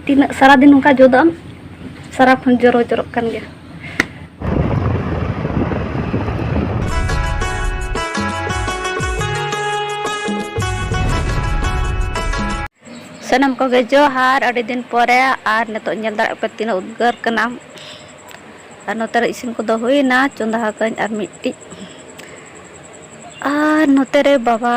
ᱛᱤᱱᱟᱹᱜ ᱥᱟᱨᱟᱫᱤᱱ ᱱᱚᱝᱠᱟ ᱡᱚᱫᱟᱢ ᱥᱟᱨᱟ ᱠᱷᱚᱱ ᱡᱚᱨᱚ ᱡᱚᱨᱚᱜ ᱠᱟᱱ ᱜᱮᱭᱟ ᱥᱟᱱᱟᱢ ᱠᱚᱜᱮ ᱡᱚᱦᱟᱨ ᱟᱹᱰᱤ ᱫᱤᱱ ᱯᱚᱨᱮ ᱟᱨ ᱱᱤᱛᱚᱜ ᱧᱮᱞ ᱫᱟᱲᱮᱭᱟᱜ ᱯᱮ ᱛᱤᱱᱟᱹᱜ ᱩᱫᱽᱜᱟᱹᱨ ᱠᱟᱱᱟ ᱟᱨ ᱱᱚᱛᱮ ᱨᱮ ᱤᱥᱤᱱ ᱠᱚᱫᱚ ᱦᱩᱭᱱᱟ ᱪᱚᱸᱫᱟ ᱟᱠᱟᱫᱟᱹᱧ ᱟᱨ ᱢᱤᱫᱴᱤᱡ ᱟᱨ ᱱᱚᱛᱮ ᱨᱮ ᱵᱟᱵᱟ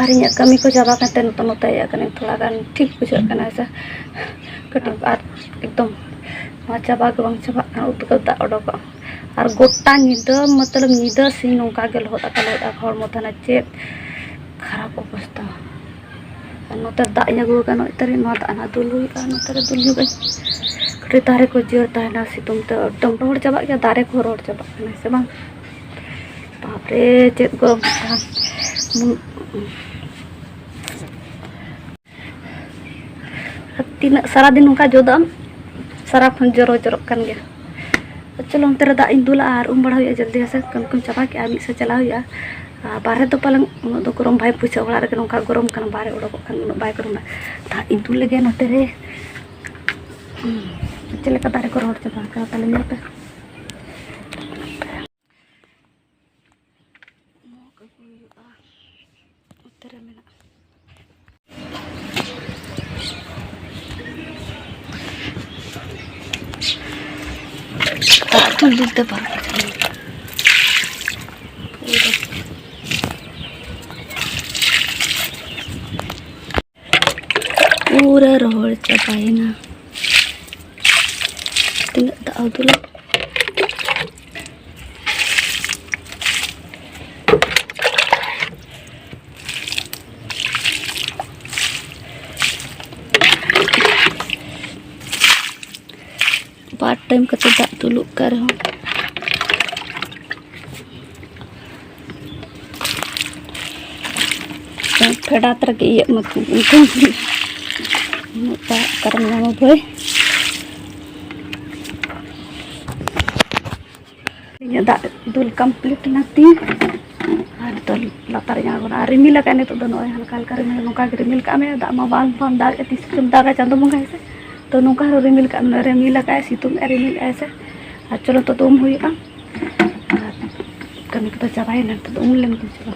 ᱟᱨ ᱤᱧᱟᱹᱜ ᱠᱟᱹᱢᱤ ᱠᱚ ᱪᱟᱵᱟ ᱠᱟᱛᱮ ᱱᱤᱛᱚᱜ ᱱᱚᱛᱮ ᱦᱮᱡ ᱟᱠᱟᱱᱟ ᱛᱷᱚᱲᱟ ᱜᱟᱱ ᱴᱷᱤᱠ ᱵᱩᱡᱷᱟᱹᱜ ᱠᱟᱱᱟ ᱥᱮ ᱠᱟᱹᱴᱤᱡ ᱟᱨ ᱮᱠᱫᱚᱢ ᱱᱚᱣᱟ ᱪᱟᱵᱟ ᱜᱮ ᱵᱟᱝ ᱪᱟᱵᱟᱜ ᱠᱟᱱᱟ ᱩᱫᱽᱜᱟᱹᱨ ᱫᱟᱜ ᱚᱰᱚᱠᱚᱜ ᱟᱨ ᱜᱚᱴᱟ ᱧᱤᱫᱟᱹ ᱢᱚᱛᱞᱚᱵ ᱧᱤᱫᱟᱹ ᱥᱤᱧ ᱱᱚᱝᱠᱟ ᱜᱮ ᱞᱚᱦᱚᱫ ᱟᱠᱟᱱᱟ ᱦᱚᱲᱢᱚ ᱛᱟᱦᱮᱱᱟ ᱪᱮᱫ ᱠᱷᱟᱨᱟᱯ ᱚᱵᱚᱥᱛᱷᱟ ᱟᱨ ᱱᱚᱛᱮ ᱫᱟᱜ ᱤᱧ ᱟᱹᱜᱩ ᱟᱠᱟᱫᱼᱟ ᱱᱚᱜᱼᱚᱭ ᱛᱟᱹᱨᱤᱧ ᱱᱚᱣᱟ ᱫᱟᱜ ᱦᱟᱸᱜ ᱫᱩᱞ ᱦᱩᱭᱩᱜᱼᱟ ᱱᱚᱛᱮ ᱨᱮ ᱫᱩᱞ ᱧᱚᱜᱟᱹᱧ ᱠᱟᱹᱴᱤᱡ ᱫᱟᱨᱮ ᱠᱚ ᱡᱤᱭᱟᱹᱲ ᱛᱟᱦᱮᱱᱟ ᱥᱤᱛᱩᱝ ᱛᱮ ᱮᱠᱫᱚᱢ ᱨᱚᱦᱚᱲ ᱪᱟᱵᱟᱜ ᱜᱮᱭᱟ ᱫᱟᱨᱮ ᱠᱚᱦᱚᱸ ᱨᱚᱦᱚᱲ ᱪᱟᱵᱟᱜ ᱠᱟᱱᱟ ᱥᱮ ᱵᱟᱝ ᱵᱟᱯᱨᱮ ᱪᱮᱫ ᱜᱚᱨᱚᱢ ᱠᱟᱱᱟ ᱛᱤᱱᱟᱹᱜ ᱥᱟᱨᱟᱫᱤᱱ ᱱᱚᱝᱠᱟ ᱡᱚᱫᱟᱜ ᱟᱢ ᱥᱟᱨᱟᱠᱷᱚᱱ ᱡᱚᱨᱚ ᱡᱚᱨᱚᱜ ᱠᱟᱱ ᱜᱮᱭᱟ ᱪᱚᱞᱚ ᱚᱱᱛᱮ ᱨᱮ ᱫᱟᱜ ᱤᱧ ᱫᱩᱞᱟ ᱟᱨ ᱩᱢ ᱵᱟᱲᱟ ᱦᱩᱭᱩᱜᱼᱟ ᱡᱚᱞᱫᱤ ᱦᱮᱸᱥᱮ ᱠᱟᱹᱢᱤ ᱠᱚᱧ ᱪᱟᱵᱟ ᱠᱮᱜᱼᱟ ᱢᱤᱫ ᱥᱮᱫ ᱪᱟᱞᱟᱣ ᱦᱩᱭᱩᱜᱼᱟ ᱟᱨ ᱵᱟᱦᱨᱮ ᱫᱚ ᱯᱟᱞᱮᱱ ᱩᱱᱟᱹᱜ ᱫᱚ ᱜᱚᱨᱚᱢ ᱵᱟᱭ ᱵᱩᱡᱷᱟᱹᱜᱼᱟ ᱚᱲᱟᱜ ᱨᱮᱜᱮ ᱱᱚᱝᱠᱟ ᱜᱚᱨᱚᱢ ᱠᱟᱱᱟ ᱵᱟᱦᱨᱮ ᱚᱰᱚᱠᱚᱜ ᱠᱷᱟᱱ ᱩᱱᱟᱹᱜ ᱵᱟᱭ ᱜᱚᱨᱚᱢᱟ ᱫᱟᱜ ᱤᱧ ᱫᱩᱞ ᱞᱮᱜᱮ ᱱᱚᱛᱮ ᱨᱮ ᱪᱮᱫ ᱞᱮᱠᱟ ᱫᱟᱨᱮ ᱠᱚ ᱨᱚᱦᱚᱲ ᱪᱟᱵᱟ ᱟᱠᱟᱱᱟ ᱛᱟᱞᱮ ᱧᱮᱞ ᱯᱮ ᱢᱚᱜᱽ ᱟᱹᱜᱩ ᱦᱩᱭᱩᱜᱼᱟ ᱚᱱᱛᱮ ᱨᱮ ᱢᱮᱱᱟᱜᱼᱟ ᱟᱹᱛᱩ ᱞᱤᱫᱟᱹ ᱵᱟᱝ ᱯᱩᱨᱟᱹ ᱨᱚᱦᱚᱲ ᱪᱟᱵᱟᱭᱮᱱᱟ ᱛᱤᱱᱟᱹᱜ ᱫᱟᱜ ᱩᱫᱩᱞᱟ ᱵᱟᱨ ᱴᱟᱭᱤᱢ ᱠᱟᱛᱮᱫ ᱫᱟᱜ ᱫᱩᱞᱩᱜ ᱠᱟᱱ ᱨᱮᱦᱚᱸ ᱯᱷᱮᱰᱟᱛ ᱨᱮᱜᱮ ᱤᱭᱟᱹᱜ ᱢᱟ ᱩᱱᱠᱩ ᱩᱱᱟᱹᱜ ᱫᱟᱜ ᱚᱠᱟᱨᱮᱢ ᱧᱟᱢᱟ ᱵᱷᱟᱹᱭ ᱤᱧᱟᱹᱜ ᱫᱟᱜ ᱫᱩᱞ ᱠᱚᱢᱯᱞᱤᱴ ᱮᱱᱟ ᱛᱤᱧ ᱟᱨ ᱱᱤᱛᱚᱜ ᱞᱟᱛᱟᱨ ᱤᱧ ᱟᱬᱜᱚᱱᱟ ᱟᱨ ᱨᱤᱢᱤᱞ ᱟᱠᱟᱫ ᱱᱤᱛᱚᱜ ᱫᱚ ᱱᱚᱜᱼᱚᱭ ᱦᱟᱞᱠᱟ ᱦᱟᱞᱠᱟ ᱨᱤᱢᱤᱞ ᱱᱚᱝᱠᱟ ᱜᱮ ᱨᱤᱢᱤᱞ ᱠᱟᱜ ᱢᱮ ᱫᱟᱜ ᱢᱟ ᱵᱟᱝ ᱵᱟᱢ ᱫᱟᱜ ᱛᱤᱥ ᱠᱚᱛᱮᱢ ᱫᱟᱜᱟ ᱪᱟᱸᱫᱚ ᱵᱚᱸᱜᱟ ᱦᱮᱸᱥᱮ ᱛᱚ ᱱᱚᱝᱠᱟ ᱦᱚᱸ ᱨᱤᱢᱤᱞ ᱠᱟᱜ ᱢᱮ ᱨᱤᱢᱤᱞ ᱟᱠᱟᱫ ᱥᱤᱛᱩᱝ ᱮ ᱨᱤᱢᱤᱞ ᱟᱭ ᱥᱮ ᱟᱨ ᱪᱚᱞᱚ ᱱᱤᱛᱚᱜ ᱫᱚ ᱩᱢ ᱦᱩᱭᱩᱜᱼᱟ ᱟᱨ ᱠᱟᱹᱢᱤ ᱠᱚᱫᱚ ᱪᱟᱵᱟᱭᱮᱱᱟ ᱱᱤᱛᱚᱜ ᱫᱚ ᱩᱢ ᱞᱮᱱ ᱜᱮ ᱪᱚᱞᱚ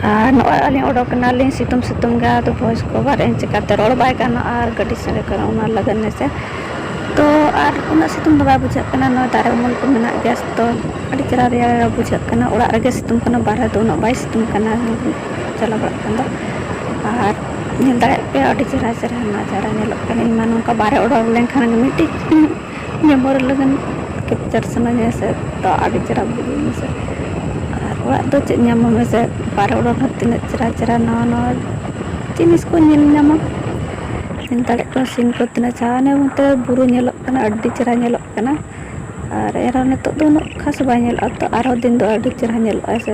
ᱟᱨ ᱱᱚᱜᱼᱚᱭ ᱟᱹᱞᱤᱧ ᱚᱰᱳᱠ ᱮᱱᱟᱞᱤᱧ ᱥᱤᱛᱩᱝ ᱥᱤᱛᱩᱝ ᱜᱮ ᱟᱫᱚ ᱵᱷᱚᱭᱮᱥ ᱠᱚ ᱚᱵᱷᱟᱨ ᱮᱱ ᱪᱤᱠᱟᱹᱛᱮ ᱨᱚᱲ ᱵᱟᱭ ᱜᱟᱱᱚᱜᱼᱟ ᱟᱨ ᱜᱟᱹᱰᱤ ᱥᱟᱰᱮ ᱠᱟᱱᱟ ᱚᱱᱟ ᱞᱟᱹᱜᱤᱫ ᱦᱮᱸᱥᱮ ᱛᱚ ᱟᱨ ᱩᱱᱟᱹᱜ ᱥᱤᱛᱩᱝ ᱫᱚ ᱵᱟᱭ ᱵᱩᱡᱷᱟᱹᱜ ᱠᱟᱱᱟ ᱱᱚᱣᱟ ᱫᱟᱨᱮ ᱩᱢᱩᱞ ᱠᱚ ᱢᱮᱱᱟᱜ ᱜᱮᱭᱟ ᱛᱚ ᱟᱹᱰᱤ ᱪᱮᱦᱨᱟ ᱨᱮᱭᱟᱲ ᱨᱮᱭᱟᱲ ᱵᱩᱡᱷᱟᱹᱜ ᱠᱟᱱᱟ ᱚᱲᱟᱜ ᱨᱮᱜᱮ ᱥᱤᱛᱩᱝ ᱠᱟᱱᱟ ᱵᱟᱦᱨᱮ ᱫᱚ ᱩᱱᱟᱹᱜ ᱵᱟᱭ ᱥᱤᱛᱩᱝ ᱠᱟᱱᱟ ᱪᱟᱞᱟᱣ ᱵᱟᱲᱟᱜ ᱠᱟᱱ ᱫᱚ ᱟᱨ ᱧᱮᱞ ᱫᱟᱲᱮᱭᱟᱜ ᱯᱮ ᱟᱹᱰᱤ ᱪᱮᱦᱨᱟ ᱪᱮᱦᱨᱟ ᱱᱟᱡᱟᱨᱟ ᱧᱮᱞᱚᱜ ᱠᱟᱱᱟ ᱤᱧᱢᱟ ᱱᱚᱝᱠᱟ ᱵᱟᱦᱨᱮ ᱚᱰᱳᱠ ᱞᱮᱱᱠᱷᱟᱱ ᱢᱤᱫᱴᱤᱡ ᱵᱮᱵᱚᱦᱟᱨ ᱞᱟᱹᱜᱤᱫ ᱠᱮᱯᱪᱟᱨ ᱥᱟᱱᱟᱧᱟ ᱥᱮ ᱛᱚ ᱟᱹᱰᱤ ᱪᱮᱦᱨᱟ ᱵᱩᱡᱩᱜᱼᱟ ᱦᱮᱸᱥᱮ ᱟᱨ ᱚᱲᱟᱜ ᱫᱚ ᱪᱮᱫ ᱧᱟᱢᱟᱢ ᱦᱮᱸᱥᱮ ᱵᱟᱦᱨᱮ ᱚᱰᱚᱠ ᱞᱮᱱᱠᱷᱟᱱ ᱛᱤᱱᱟᱹᱜ ᱪᱮᱦᱨᱟ ᱪᱮᱦᱨᱟ ᱱᱟᱣᱟ ᱱᱟᱣᱟ ᱡᱤᱱᱤᱥ ᱠᱚ ᱧᱮᱞ ᱧᱟᱢᱟ ᱧᱮᱞ ᱫᱟᱲᱮᱭᱟᱜ ᱠᱟᱱᱟ ᱥᱤᱱ ᱠᱚ ᱛᱤᱱᱟᱹᱜ ᱪᱮᱦᱨᱟ ᱦᱟᱱᱮ ᱚᱱᱛᱮ ᱵᱩᱨᱩ ᱧᱮᱞᱚᱜ ᱠᱟᱱᱟ ᱟᱹᱰᱤ ᱪᱮᱦᱨᱟ ᱧᱮᱞᱚᱜ ᱠᱟᱱᱟ ᱟᱨ ᱮᱱᱨᱮᱦᱚᱸ ᱱᱤᱛᱚᱜ ᱫᱚ ᱩᱱᱟᱹᱜ ᱠᱷᱟᱥ ᱵᱟᱭ ᱧᱮᱞᱚᱜᱼᱟ ᱛᱚ ᱟᱨᱦᱚᱸ ᱫᱤᱱ ᱫᱚ ᱟᱹᱰᱤ ᱪᱮᱦᱨᱟ ᱧᱮᱞᱚᱜᱼᱟ ᱦᱮᱸᱥᱮ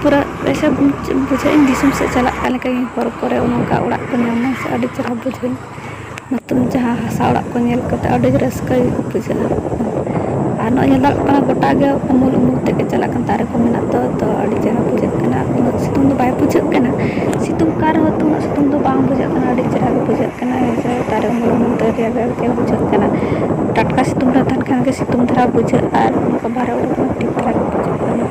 ᱯᱩᱨᱟᱹ ᱮᱭᱥᱮ ᱵᱩᱡᱷᱟᱹᱜ ᱤᱧ ᱫᱤᱥᱚᱢ ᱥᱮᱫ ᱪᱟᱞᱟᱜ ᱠᱟᱱ ᱞᱮᱠᱟ ᱜᱮ ᱦᱚᱨ ᱠᱚᱨᱮ ᱚᱱᱠᱟ ᱚᱲᱟᱜ ᱠᱚ ᱧᱟᱢ ᱞᱮᱱᱠᱷᱟᱱ ᱟᱹᱰᱤ ᱪᱮᱦᱨᱟ ᱵᱩᱡᱷᱟᱹᱜᱼᱟ ᱱᱚᱛᱩᱱ ᱡᱟᱦᱟᱸ ᱦᱟᱥᱟ ᱚᱲᱟᱜ ᱠᱚ ᱧᱮᱞ ᱠᱟᱛᱮᱫ ᱟᱹᱰᱤ ᱨᱟᱹᱥᱠᱟᱹ ᱜᱮ ᱵᱩᱡᱷᱟᱹᱜᱼᱟ ᱟᱨ ᱱᱚᱜᱼᱚᱭ ᱧᱮᱞ ᱧᱟᱢᱚᱜ ᱠᱟᱱᱟ ᱜᱳᱴᱟ ᱜᱮ ᱩᱢᱩᱞ ᱩᱢᱩᱞ ᱛᱮᱜᱮ ᱪᱟᱞᱟᱜ ᱠᱟᱱᱟ ᱫᱟᱨᱮ ᱠᱚ ᱢᱮᱱᱟᱜ ᱫᱚ ᱛᱳ ᱟᱹᱰᱤ ᱪᱮᱦᱨᱟ ᱵᱩᱡᱷᱟᱹᱜ ᱠᱟᱱᱟ ᱩᱱᱟᱹᱜ ᱥᱤᱛᱩᱝ ᱫᱚ ᱵᱟᱭ ᱵᱩᱡᱷᱟᱹᱜ ᱠᱟᱱᱟ ᱥᱤᱛᱩᱝ ᱠᱟᱱ ᱨᱮᱦᱚᱸ ᱛᱚ ᱩᱱᱟᱹᱜ ᱥᱤᱛᱩᱝ ᱫᱚ ᱵᱟᱝ ᱵᱩᱡᱷᱟᱹᱜ ᱠᱟᱱᱟ ᱟᱹᱰᱤ ᱪᱮᱦᱨᱟ ᱜᱮ ᱵᱩᱡᱷᱟᱹᱜ ᱠᱟᱱᱟ ᱦᱮᱸᱥᱮ ᱫᱟᱨᱮ ᱩᱢᱩᱞ ᱩᱢᱩᱞ ᱛᱮ ᱨᱮᱭᱟᱲ ᱨᱮᱭᱟᱲ ᱜᱮ ᱵᱩᱡᱷᱟᱹᱜ ᱠᱟᱱᱟ ᱴᱟᱴᱠᱟ ᱥᱤᱛᱩᱝ ᱨᱮ ᱛᱟᱦᱮᱱ ᱠᱷᱟᱱ ᱜᱮ ᱥᱤᱛᱩᱝ ᱫᱷᱟᱨᱟ ᱵᱩᱡᱷᱟᱹᱜᱼᱟ ᱟᱨ ᱚᱱᱠᱟ ᱵᱟᱦᱨᱮ ᱩᱰᱩᱠ ᱞᱮᱱᱠᱷᱟᱱ ᱴᱷᱤᱠ ᱫᱷᱟᱨᱟ ᱜᱮ ᱵᱩᱡᱷᱟᱹᱜ ᱠᱟᱱᱟ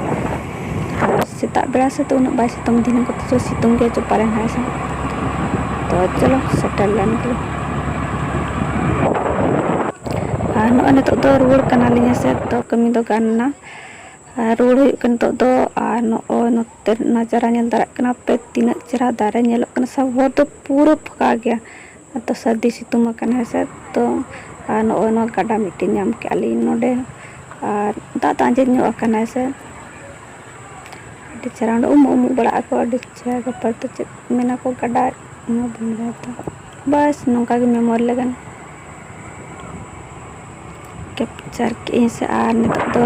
ᱟᱨ ᱥᱮᱛᱟᱜ ᱵᱮᱲᱟ ᱥᱮᱫ ᱫᱚ ᱩᱱᱟᱹᱜ ᱵᱟᱭ ᱥᱤᱛᱩᱝ ᱫᱤᱱ ᱠᱚᱛᱮ ᱫᱚ ᱥᱤᱛᱩᱝ ᱜᱮᱭᱟ ᱪᱚᱯᱟ ᱨᱮ ᱦᱮᱱᱟᱭᱟ ᱥᱮ ᱛᱚ ᱪᱚᱞᱚ ᱥᱮᱴᱮᱨ ᱞᱮᱱ ᱜᱮ ᱟᱨ ᱱᱚᱜᱼᱚᱭ ᱱᱤᱛᱚᱜ ᱫᱚ ᱨᱩᱣᱟᱹᱲ ᱠᱟᱱᱟᱞᱤᱧ ᱦᱮᱸᱥᱮ ᱛᱚ ᱠᱟᱹᱢᱤ ᱫᱚ ᱜᱟᱱ ᱮᱱᱟ ᱟᱨ ᱨᱩᱣᱟᱹᱲ ᱦᱩᱭᱩᱜ ᱠᱟᱱᱟ ᱱᱤᱛᱚᱜ ᱫᱚ ᱟᱨ ᱱᱚᱜᱼᱚᱭ ᱱᱚᱛᱮ ᱱᱟᱡᱟᱨᱟ ᱧᱮᱞ ᱫᱟᱲᱮᱭᱟᱜ ᱠᱟᱱᱟ ᱯᱮ ᱛᱤᱱᱟᱹᱜ ᱪᱮᱦᱨᱟ ᱫᱟᱨᱮ ᱧᱮᱞᱚᱜ ᱠᱟᱱᱟ ᱥᱮ ᱦᱚᱨ ᱫᱚ ᱯᱩᱨᱟᱹ ᱯᱷᱟᱸᱠᱟ ᱜᱮᱭᱟ ᱟᱫᱚ ᱥᱟᱹᱨᱫᱤ ᱥᱤᱛᱩᱝ ᱟᱠᱟᱱᱟ ᱦᱮᱸ ᱥᱮ ᱛᱚ ᱟᱨ ᱱᱚᱜᱼᱚᱭ ᱱᱚᱣᱟ ᱜᱟᱰᱟ ᱢᱤᱫᱴᱮᱱ ᱧᱟᱢ ᱠᱮᱜᱼᱟ ᱞᱤᱧ ᱱᱚᱰᱮ ᱟᱨ ᱫᱟᱜ ᱫᱚ ᱟᱸᱡᱮᱫ ᱧᱚᱜ ᱟᱠᱟᱱᱟ ᱦᱮᱸ ᱥᱮ ᱟᱹᱰᱤ ᱪᱮᱦᱨᱟ ᱚᱸᱰᱮ ᱩᱢᱩᱜ ᱩᱢᱩᱜ ᱵᱟᱲᱟᱜ ᱟᱠᱚ ᱟᱹᱰᱤ ᱪᱮᱦᱨᱟ ᱜᱟᱯᱟ ᱫᱚ ᱪᱮᱫ ᱢᱮᱱᱟ ᱠᱚ ᱜᱟᱰᱟ ᱱᱚᱣᱟ ᱵᱟᱹᱧ ᱵᱟᱲᱟᱭᱟ ᱛᱚ ᱵᱟᱥ ᱱᱚᱝᱠᱟ ᱜᱮ ᱢᱮᱢᱳᱨᱤ ᱞᱟᱹᱜᱤᱫ ᱠᱮᱯᱪᱟᱨ ᱠᱮᱜᱼᱟᱹᱧ ᱥᱮ ᱟᱨ ᱱᱤᱛᱚᱜ ᱫᱚ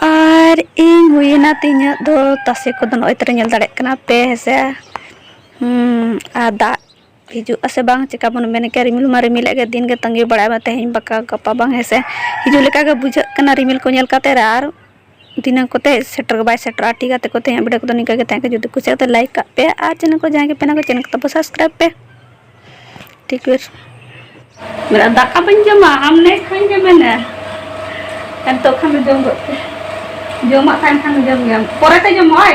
ᱟᱨ ᱤᱧ ᱦᱩᱭᱮᱱᱟ ᱛᱤᱧᱟᱹᱜ ᱫᱚ ᱛᱟᱥᱮ ᱠᱚᱫᱚ ᱱᱚᱜᱼᱚᱭ ᱛᱚᱨᱮ ᱧᱮᱞ ᱫᱟᱲᱮᱭᱟᱜ ᱠᱟᱱᱟ ᱯᱮ ᱦᱮᱸᱥᱮ ᱟᱨ ᱫᱟᱜ ᱦᱤᱡᱩᱜ ᱟᱥᱮ ᱵᱟᱝ ᱪᱮᱠᱟ ᱵᱚᱱ ᱢᱮᱱ ᱠᱮᱭᱟ ᱨᱤᱢᱤᱞ ᱢᱟ ᱨᱤᱢᱤᱞᱮᱫ ᱜᱮ ᱫᱤᱱ ᱜᱮ ᱛᱟᱺᱜᱤ ᱵᱟᱲᱟᱭ ᱢᱮ ᱛᱮᱦᱮᱧ ᱵᱟᱠᱷᱟᱱ ᱜᱟᱯᱟ ᱵᱟᱝ ᱦᱮᱸᱥᱮ ᱦᱤᱡᱩᱜ ᱞᱮᱠᱟ ᱜᱮ ᱵᱩᱡᱷᱟᱹᱜ ᱠᱟᱱᱟ ᱨᱤᱢᱤᱞ ᱠᱚ ᱧᱮᱞ ᱠᱟᱛᱮᱫ ᱟᱨ ᱛᱤᱱᱟᱹᱜ ᱠᱚᱛᱮ ᱥᱮᱴᱮᱨ ᱵᱟᱭ ᱥᱮᱴᱮᱨᱚᱜᱼᱟ ᱴᱷᱤᱠ ᱜᱮᱭᱟ ᱛᱮᱠᱚ ᱛᱮᱦᱮᱧᱟᱜ ᱵᱷᱤᱰᱤᱭᱳ ᱠᱚᱫᱚ ᱱᱤᱝᱠᱟᱹ ᱜᱮ ᱛᱟᱦᱮᱸ ᱠᱟᱱᱟ ᱡᱩᱫᱤ ᱠᱩᱥᱤᱭᱟᱜ ᱛᱚ ᱞᱟᱭᱤᱠ ᱠᱟᱜ ᱯᱮ ᱟᱨ ᱪᱮᱱᱮᱞ ᱠᱚ ᱡᱟᱦᱟᱸᱭ ᱜᱮ ᱯᱮᱱᱟ ᱠᱚ ᱪᱮᱱᱮᱞ ᱠᱚ ᱛᱟᱵᱚ ᱥᱟᱵᱥᱠᱨᱟᱭᱤᱵ ᱯᱮ ᱴᱷᱤᱠ ᱵᱮᱨ ᱢᱮᱱᱟ ᱫᱟᱠᱟ ᱵᱟᱹᱧ ᱡᱚᱢᱟ ᱟᱢ ᱱᱮ ᱠᱷᱟᱱ ᱜᱮ ᱢᱮᱱᱟ ᱱᱤᱛᱚᱜ ᱠᱷᱟᱱ ᱫᱚ ᱡᱚᱢ ᱜᱚᱫ ᱯᱮ ᱡᱚᱢᱟᱜ ᱛᱟᱦᱮᱱ ᱠᱷᱟᱱ ᱫᱚ ᱡᱚᱢ ᱜᱮᱭᱟᱢ ᱯᱚᱨᱮᱛᱮ ᱡᱚᱢᱚᱜᱼᱟᱭ